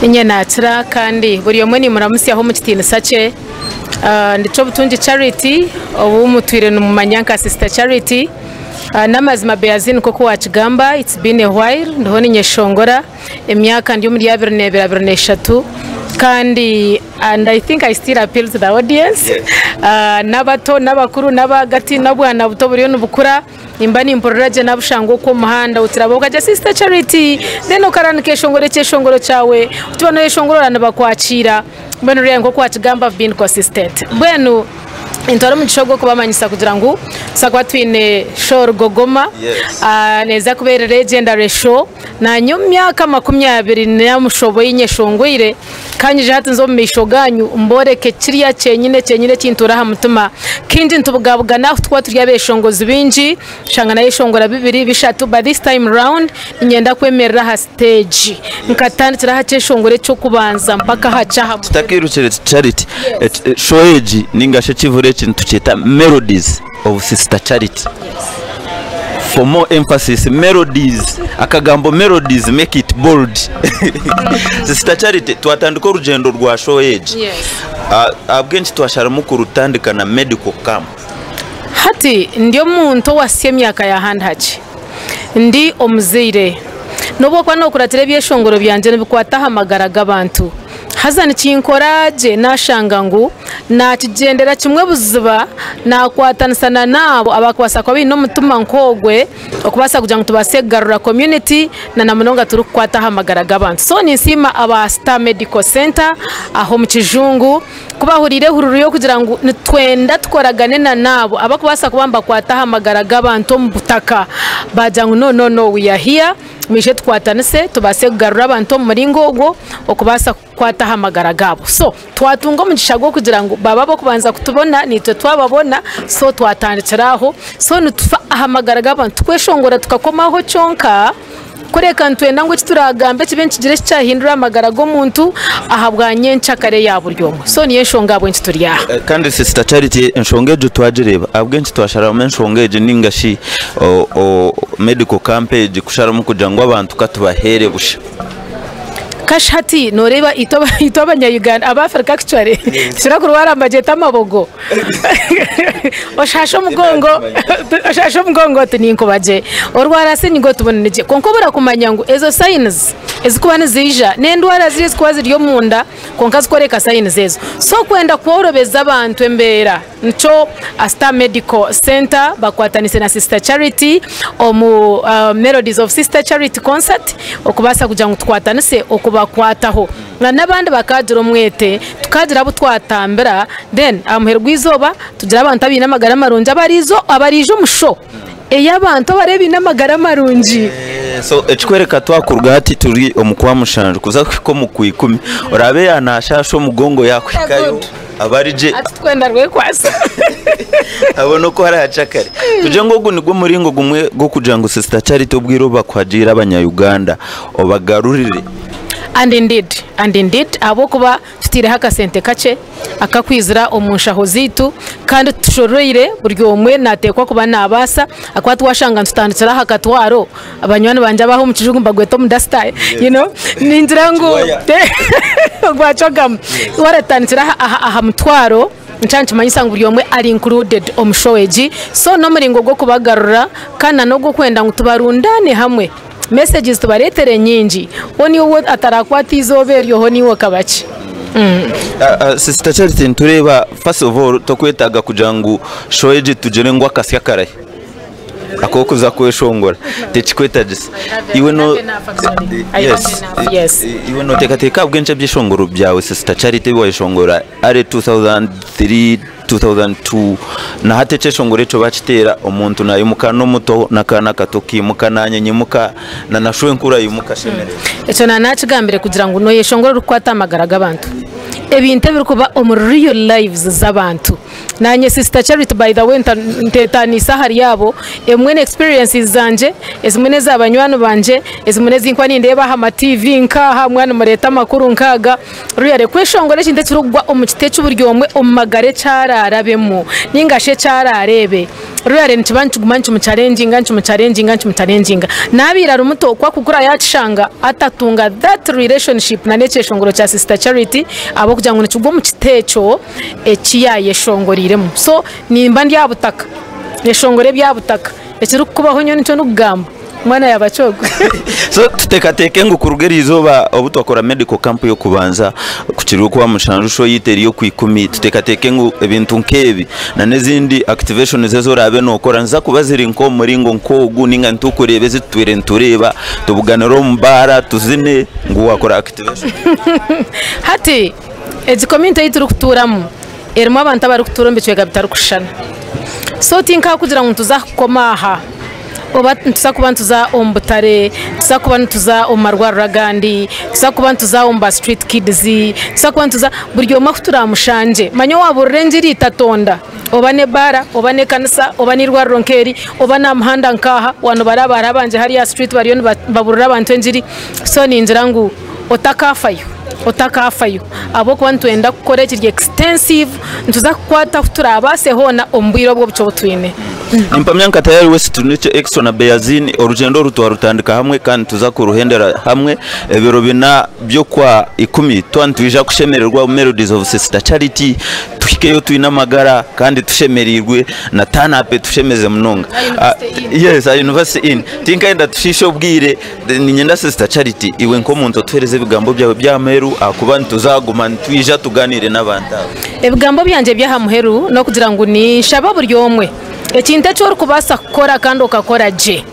Inye nakira kandi buri omwe nimuramutsyaho omu kitiinisa kye. Ah, Ndi Kyobutungi Charity, obu mutwire nimumanya nka Sister Charity. Ah, N'amazima Beazin nk'oku wakigamba, it's been a while ndiho ninyeshongora. Emyaka ndi omuri abiri n'ebiri abiri n'eshatu. Kandi and I think I still appeal to the audience, ah, n'abato n'abakuru n'abaagati n'obwana buto buriyo nibukura. Nimba nimpurira gye nabushanga okwo omuhanda otirabaho okagya sister charity then okara nikeshongora ekyeshongoro kyawe otiba noyeshongorora nibakwakiira mbwenu ryayo nkoku wakigamba I've been consistent mbwenu nintwara omugisha ogwo kubamanyisa kugira ngu tusa kuba twine show rugogoma Yes. ah, neza kuba eri legend are show Naanye omu myaka makumi abiri n'omushusha obu einyeshongweire, ka nyije hati nze omu maisho gaanyu mbooreke kirya kyenyine kyenyine ekintuura aha mutima. Kindi nitubugabugana ahu turikuba turi abeeshongozi baingi, tushanga nayeshongora bibiri, bishatu but this time round niinyenda kwemerera aha siteegi nkatandikira aha kyeshongoro eky'okubanza mpaka aha ky'aha muheru. Tutakiirukire, Charity, show egi nainga shi ekivuri eki nitukyeta Melodies. of sister charity for more emphasis melodies akagambo melodies make it bold sister charity twatandika orugyendo rwa show egi ah, ahabw'enki twasharamu kurutandika na medical camp hati ndi omuntu owasya emyaka ya handhaki Ndi omuzaire. N'obwokuba nookuratira ebyeshongoro byangye nibikwata aha magara g'abantu, haza nikinkora gye naashanga ngu naakigyendera kimwe buziba naakwatanisa n'abo abarikubaasa kuba baine omutima nk'ogwe okubaasa kugira ngu tubaase kugarura community na munonga turikukwata aha magara g'abantu. So ninsiima aba Star Medical Centre aha omu kijungu. Ku baahuriire ehururu y'okugira ngu nitwenda tukoragane na n'abo abakubaasa kuba nibakwata aha magara g'abantu omu butaka, baagira ngu no no no, we are here, mwije tukwatanise tubaase kugarura abantu omu muringo ogwo okubaasa kukwata aha magara gaabo. So twatunga omugisha gw'okugira ngu baba ab'okubanza kutubona naitwe twababona so twatandikira aho so nitufa aha magara g'abantu, tukweshongora tukakomaho kyonka. Kureka nitwenda ngu eki turaagambe kibe nikigire eki kyahindura aha magara g'omuntu ahabwa nyencakare ya buri omwe. So, niyo enshonga ahabw'enki turi aha. Kandi Sisita Charity, enshonga egyo twagireeba ahabw'enki twasharamu enshonga egi nainga shi Medical Camp egi kusharamu kugira ngu abantu ka tubaheere busha. Kashi hati nooreeba itwe Abanya-Uganda, Abafirika actually, nitushobora kurwara amagyeto amabogo? oshaashe omugongo oshaashe omugongo oti ninkuba gye orwara senyiga oti buni nigye kwonka obura kumanya ngu ezo signs ezikuba niziija n'endwara ziri ezikuba ziri omunda kwonka zikworeka signs ezo so kwenda kworobeza abantu embeera nikyo aha star medical center bakwatanise na sister charity omu melodies of sister charity concert okubaasa kugira ngu tukwatanise okubakwataho. Na nabandi bakagira omwete, tukagira abu twatambira, then ahamuheru gweizoba tugira abantu abaine amagara marungi abarizo abariija omu show eyabantu abari abaine amagara marungi. So ekikwereka twakuruga hati turi omu kwa mushanju kuza kuhika omu kwa ikumi, orabe ya nashaasha omugongo yakuhikayo. abari gye Hati twena rwekwatsa. abo n'oku hari aha kyakare tugire ngu ogu nigwo muringo gumwe gw'okugira ngu sister charity obwire obu bakuhagiire abanya uganda obagarurire And indeed, and indeed, ahabw'okuba tutaireho akasente kakye akakwizira omu nshaho zaitu kandi tushoroire buri omwe nateekwa kuba nabaasa ahakuba twashanga nitutandikira aha katwaro, Banywani bangye ab'aha omu kijungu mbagweta omu dasita you know ningira ngu ogwa cogamu waratandikira aha- aha- aha mutwaro nikyo nikimanyisa ngu buri omwe ari included omu show egi so n'omuringo gw'okubagarura kandi na n'ogw'okwenda ngu tubarundaane hamwe messages tubareetere nyingi hoo niiwe ou atarakwata eizooba eryo hoo niiwe okaba ki. Sister Charity nitureeba first of all tokwetaaga kugira ngu show egi tugire ngu akasya karahi. ak'okuza kweshongora tikikwetagisa iwe no yes yes iwe noteekateeka ahabw'enki ebyeshongoro byawe sister charity ebi wayeshongora are 2003 2002 na hati ekyeshongoro ekyo bakiteera omuntu nayimuka n'omuto n'akaana akato kimuka na nyina ayimuka na na shwenkuru ayimuka ashemererwa ekyo na nakigambire kugira ngu noyeshongora orikukwata amagara g'abantu ebintu ebirikuba omuri real lives z'abantu Naanye sister charity by the way ntetaniise ahari abo emwe ne experiences zangye ezimwe neza banywani bangye ezimwe nezinkuba nindeeba aha ma TV nkaaha mwa nimureeta amakuru nkaaga really kweshongora ekintu ekirikugwa omu kiti eki buri omwe omu magara eki ararabemu ningashi eki arareebe really nikiba nikiguma nikimu chalenginga nikimu chalenginga nikimu chalenginga nabiire ari muto ku akukura yakishanga atatunga that relationship na nekyeshongoro kya sister charity ahabwokugira ngu nikigwa omu kiti ekyo. eki yaayeshongoreiremu. So nimba ndi aha butaka, neshongora ebya butaka. Ekirikukubaho nyowe nikyo ndikugamba, mwana ya Bakyogo. So tuteekateeke ngu kuruga erizooba obu twakora medical camp y'okubanza, ku kiri okwa mushanju show yaitu eri okwa ikumi, tuteekateeke ngu ebintu nk'ebi nana ezindi activations ezi oraabe nookora niziza kuba ziri nk'omu muringo nk'ogu nainga nitukureeba ezi tutwire nitureeba, tubuganire omu baara, tuzine ngu waakora activation. Hati. Egi community ei turikutuuramu erimu abantu abarikutuura omu bicweka bitarikushushana so tinka kugira ngu nituza kukoma aha oba nituza kuba nituza omu butare, nituza kuba nituza omu marwariro agandi, nituza kuba nituza omu ba street kids, nituza kuba nituza buri omwe ahu turaamushangye. Manya waabuurira engiri tatonda oba n'ebaara oba n'ekanisa oba n'eirwariro nk'eri oba n'aha muhanda nk'aha waaba nibaraaba hariho abangye hariya aha street bariyo nibabuurira abantu engiri so ningira ngu. otakaafayo otakaafayo ahabw'okuba nitwenda kukora ekiri extensive nituza kukwata ahu turaabaase hoona omu bwire obwo obuce obu twine. Nimpamya nka Tayari West twine ekyo Exo na Beazin orugyendo oru twarutandika hamwe kandi nituza kuruhendera hamwe ebiro bina by'okwa ikumi twaba nitwija kushemererwa omu Melodies of Sisita Charity tuhikeyo twine amagara kandi tushemereirwe na turn up etushemeze munonga. Yes, a University Inn. Tinkayenda tushiishe obwire. Niinyenda Sisita Charity iwe nk'omuntu otuheereze ebigambo byawe by'aha muheru ahakuba nituzaaguma nitwija tugaaniire n'abantu abo. Ebigambo byangye eby'aha muheru n'okugira ngu ninshabe buri omwe ekintu eki orikubaasa kukora kandi okakora gye,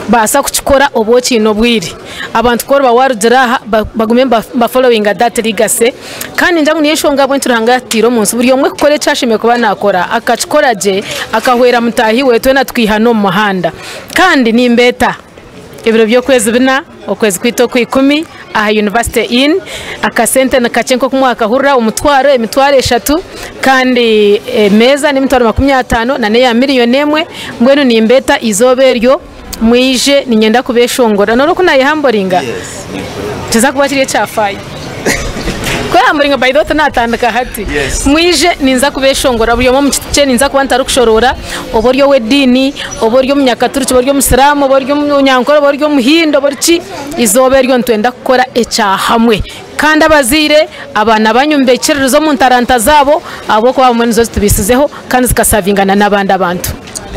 baasa kukikora obu okiine obwire. Abantu ku oriba waarugira aha bagume ba followinga that legacy kandi ningira ngu niyo nshonga ahabw'enki Ruhanga yaatutaire omu nsi buri omwe kukora eki ashemereire kuba naakora akakikora gye akahwera mutaahi we twena tukaihana omu muhanda. Kandi nimbeeta. Ebiro by'okwezi bina, okwezi kwaitu okwa ikumi aha University Inn, akasente ni kakye nk'oku mwakahurira, omutwaro, emitwaro eshatu, kandi emeeza n'emitwaro makumi ataano nana eya milioni emwe, mbwenu nimbeeta eizooba eryo mwije niinyenda kubeeshongorera. Nooroba oku naayehamboriinga? Nikiza kuba kiri ekyafaayo. Kweha muringo by the way tinatandika hati mwije ninza kubeshongora buri omwe omu kiti kye ninza kuba ntarikushoroora oba ori ow'ediini oba ori omunyakaturiki oba ori omusiramu oba ori omunyankore oba ori omuhindi oba ori ki eizooba eryo nitwenda kukora ekya hamwe kandi abazaire abaana banyu mubekiririze omu ntaranta zaabo ahabw'okuba abamwe nizo zitubiisizeho kandi zikasavinga na n'abandi abantu.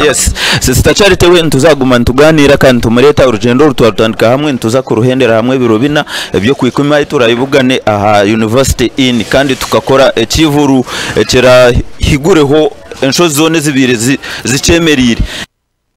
Yes sister charity we nituza kuguma nituganira kandi nitumureta orugyendo oru twarutandika hamwe nituza kuruhendera hamwe ebiro bina ebyokwikumi ahu turabugane aha university inn kandi tukakora ekihuru ekirahigureho enshozi zona ezibaire zikyemerire.